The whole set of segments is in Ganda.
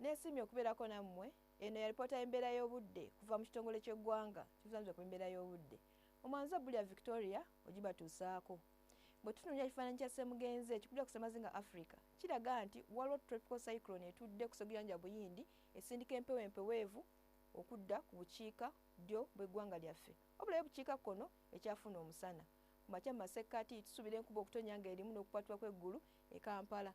Nesiimye okubeerako nammwe. Eno yalipoota y'embeera y'obudde kuva mu kitongole ky'eggwanga ekivunanyizibwa ku embeera y'obudde mu mwanza bbuli ya Victoria ogibatuusaako. Bwe tutunuulira ekifaananyi kya Ssemugenzi ekikubira ku ssemazinga Africa kiraga nti waliwo tropical cyclone etudde ku seguyanja Buyindi esindika empewo empeweevu okudda ku bukiika ddyo bw'eggwanga lyaffe wabula ye bukiika kkono ekyafuna omusana ku makya mu masekkati tusuubira enkuba okutonya nga erimu n'okukwatibwa kw'eggulu e Kampala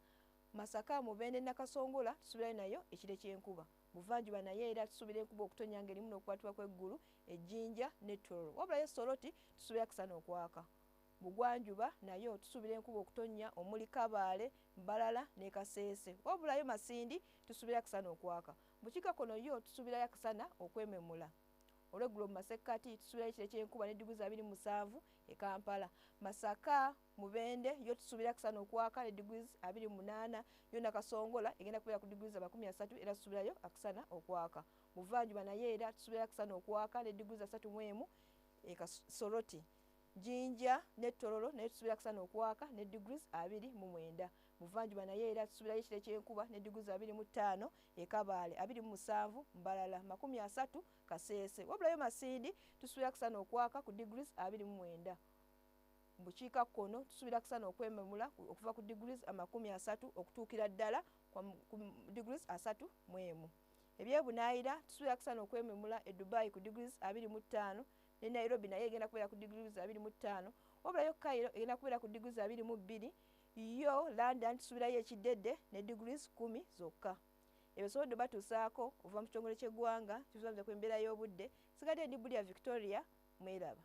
Masaka, Mubende, Nakasongola tusubirayo nayo ekire ky'enkuba. Buvanjuba nayo era tusubira enkuba okutonya ng'erimu n'okukwatibwa kw'eggulu e Jinja ne Tororo. Wabula yo Soroti tusubira akasana okwaka. Bugwanjuba nayo tusubira enkuba okutonya omuli Kabaale, Mbarara ne Kasese. Wabula yo Masindi tusubira akasana okwaka. Bukiika kono yo tusubirayo akasana okwememula. Olw'eggulo mu masekkati tusubirayo ekire ky'enkuba ne diguli za biri mu musanvu e Kampala. Masaka. Mubende yo tusuubira kusana okwaka ne degrees abiri munaana yo nakasongola egenda kubeera ku degrees amakumi asatu era tusuubirayo akusana okwaka muvanjuba naye era tusuubira akusana okwaka ne degrees asatu mu emu ekasoroti jinja ne tororo naye tusuubira akusana okwaka ne degrees abiri mu mwenda muvanjuba naye era tusuubirayo ekire kyenkuba ne degrees abiri mu ttaano ekabaale abiri mu musanvu mbalala makumi asatu kaseese wabulayo masindi tusuubira akusana okwaka ku degrees abiri mu mwenda mu bukiika kkono tusuubira kusana okwememula okuva ku degrees amakumi asatu okutuukira ddala ku degrees asatu mu emu ebyebunaayira tusuubira kusana okwememula e dubai ku degrees abiri mu ttaano ne nairobi naye egenda kubeera ku degrees abiri mu ttaano wabulayo kairo egenda kubeera ku degrees abiri mu bbiri yo london tusuubirayo ekiddedde ne degrees kumi zokka ebyo sobodde batuusaako okuva mu kitongole ky'eggwanga kizamza ku embeera y'obudde sigadde ndi bulya victoria mweraba